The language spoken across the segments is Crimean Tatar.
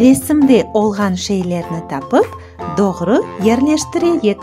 Resimde olğan şeylerni tapıp, doğru yerleştireyik.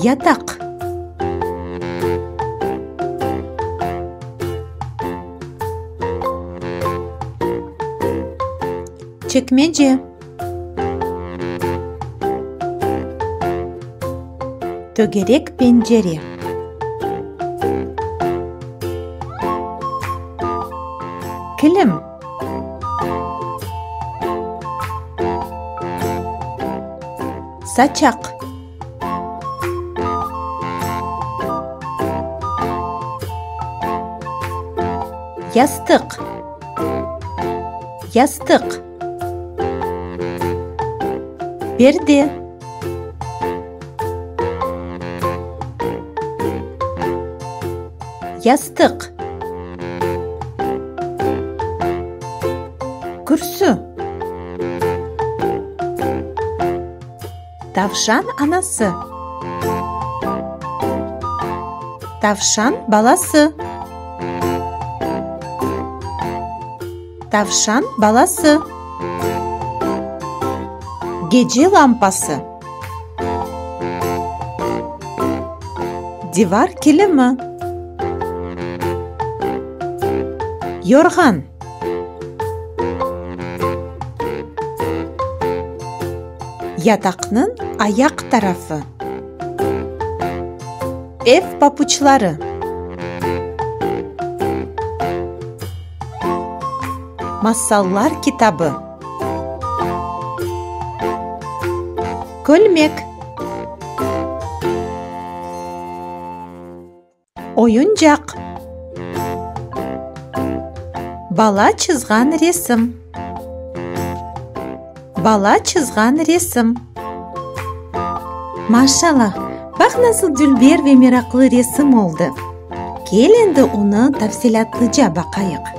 Yataq. Çekmece. Tögerek pencere. Kilim. Saçaq. Yastıq. Yastıq. Perde. Yastıq. Kürsü. Tavşan anası. Tavşan balası. Tavşan balası. Gece lampası. Divar kilimi. Yorğan. Yataqnıñ ayaq tarafı. Ev papuçları. Masallar kitabı. Kölmek. Oyuncaq. Bala çızğan resim. Bala çızğan resim. Maşalâh, bax nasıl dülber ve meraqlı resim oldı. Kel endi onı tafsilâtlıca baqayıq.